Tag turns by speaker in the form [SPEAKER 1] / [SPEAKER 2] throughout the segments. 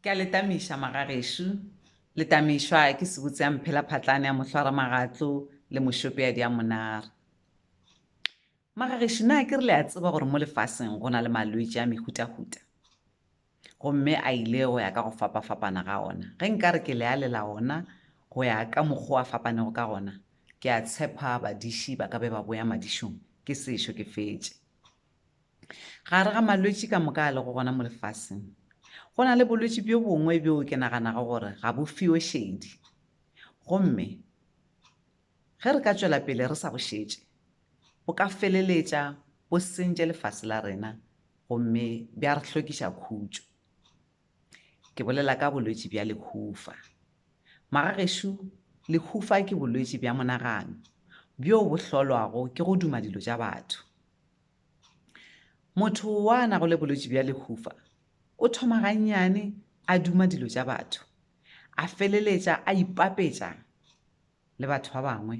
[SPEAKER 1] Ke a le tamiša magagešo. Le tamišwa ke sebutse ya mphela phatlane ya mohlwara magatlo le mošopeadi ya monara. Magagešo na ke re le a tseba gore mo lefaseng go na le malwetši a mehutahuta? Gomme a ile go ya ka go fapafapana ga ona. Ge nka re ke le alela ona go ya ka mokgo a fapanego ka gona, ke a tshepa badiši ba ka be ba boya madišong ke sešo ke fetše. Gare ga malwetši ka moka a lego gona mo lefaseng, go na le bolwetši bjo bongwe bjoo ke naganago gore ga bo fiwe šedi. Gomme ge re ka tšwela pele re sa bo šetše, bo ka feleletša bo sentše lefase la rena gomme bja re hlokiša khutšo. Ke bolela ka bolwetši bja lehufa. Magagešo, lehufa ke bolwetši bja monagano bjoo bo hlolwago ke go duma dilo tša batho. Motho wa na go le bolwetši bja lehufa o thoma gannyane a duma dilo tša batho, a feleletša a ipapetša le batho ba bangwe,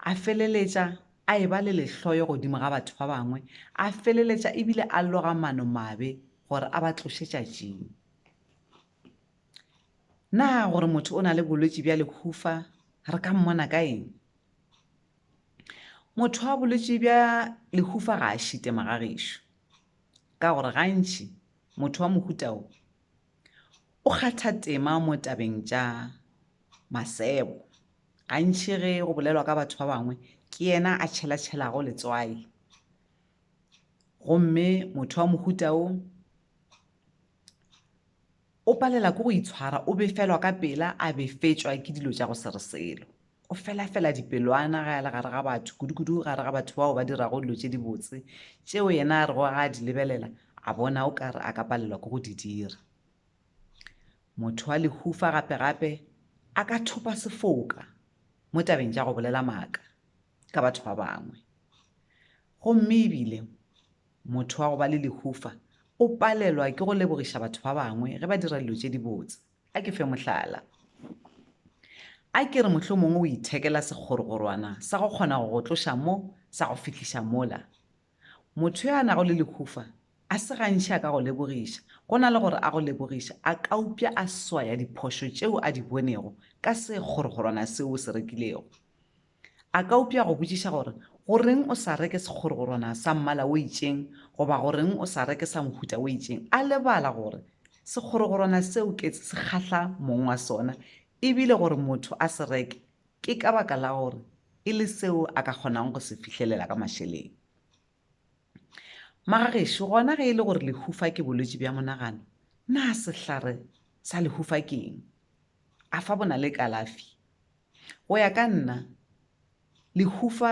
[SPEAKER 1] a feleletša a e ba le lehloyo godimo ga batho ba bangwe, a feleletša ebile a loga mano mabe gore a ba tloše tšatšing. Na gore motho o na le bolwetši bja lehufa re ka mmona ka eng? motho wa bolwetši bja lehufa ga a šite magagešo ka gore gantši motho wa mohutao o kgatha tema mo tabeng tša masebo gantši ge go bolelwa ka batho ba bangwe ke yena a tšhelatšhelago letswai gomme motho wa mohutao O palela ke go itshwara, o befelwa ka pela, a befetšwa ke dilo tša go se re selo. O felafela dipelwana ge a le gare ga batho, kudukudu gare ga batho bao ba dirago dilo tše dibotse, tšeo yena a rego ga a di lebelela a bona o ka re a ka palelwa ke go di dira. Motho wa lehufa gape-gape a ka thopa sefoka mo tabeng tša go bolela maaka ka batho ba bangwe. Gomme ebile Motho wa go ba le lehufa o palelwa ke go lebogiša batho ba bangwe ge ba dira dilo tše dibotse. A ke fe mohlala. A ke re mohlomongwe o ithekela sekgorogorwana sa go kgona go go tloša mo sa go fihliša mola. Motho yo a nago le lehufa a se gantši a ka go lebogiša. Go na le gore a go lebogiše, a ka upša a swaya diphošo tšeo a di bonego ka sekgorogorwana seo o se rekilego. A ka upša go botšiša gore, Go reng o sa reke sekgorogorwana sa mmala o itšeng? goba Go reng o sa reke sa mohuta o itšeng? A lebala gore sekgorogorwana seo ke se kgahla mong wa sona e bile gore motho a se reke ke ka baka la gore e le seo a ka kgonang go se fihlelela ka mašeleng. Magagešo, gona ge e le gore lehufa ke bolwetši bja monagano, na sehlare sa lehufa ke eng? A fa bona le kalafi? Go ya ka nna, lehufa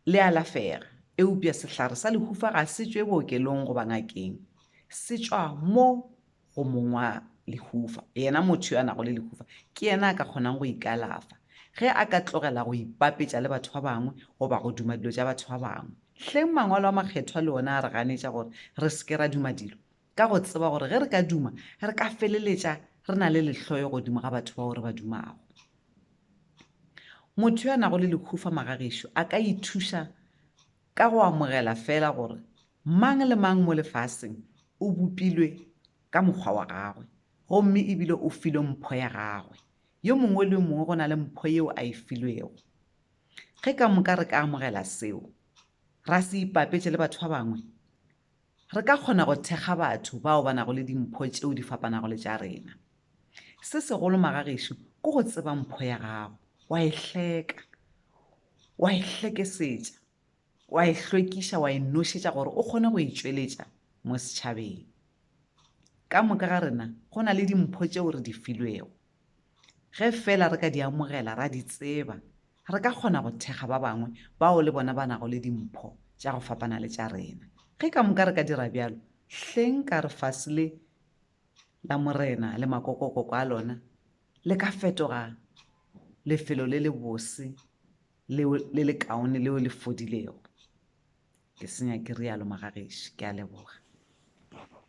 [SPEAKER 1] le alafega, eupša sehlare sa lehufa ga se tšwe bookelong goba ngakeng, se tšwa mo go mong wa lehufa, yena motho yo a nago le lehufa ke yena a ka kgonang go ikalafa. Ge a ka tlogela go ipapetša le batho ba bangwe goba go duma dilo tša batho ba bangwe. Hleng Mangwalo a Makgethwa le ona a re ganetša gore re se ke ra duma dilo, ka go tseba gore ge re ka duma re ka feleletša re na le lehloyo godimo ga batho bao re ba dumago. Motho yo a nago le lehufa magagešo a ka ithuša Ka go amogela feela gore mang le mang mo lefaseng o bopilwe ka mokgwa wa gagwe gomme e bile o filwe mpho ya gagwe, yo mongwe le yo mongwe go na le mpho yeo a e filwego. Ge ka moka re ka amogela seo, ra se ipapetše le batho ba bangwe, Re ka kgona go thekga batho bao ba nago le dimpho tšeo di fapanago le tša rena. Se segolo magagešo ke go tseba mpho ya gago, wa e hleka, wa e hlekesetša, wa e hlwekiša, wa e nošetša gore o kgone go e tšweletša mo setšhabeng. Ka moka ga rena go na le dimpho tšeo re di filwego. Ge feela re ka di amogela, ra di tseba, re ka kgona go thekga ba bangwe bao le bona ba nago le dimpho tša go fapana le tša rena. Ge ka moka re ka dira bjalo, hleng ka re fase le la Morena le makokokoko a lona le ka fetoga lefelo le lebose leo le lekaone leo le fodilego. Ke senya ke rialo Magageši. Ke a leboga.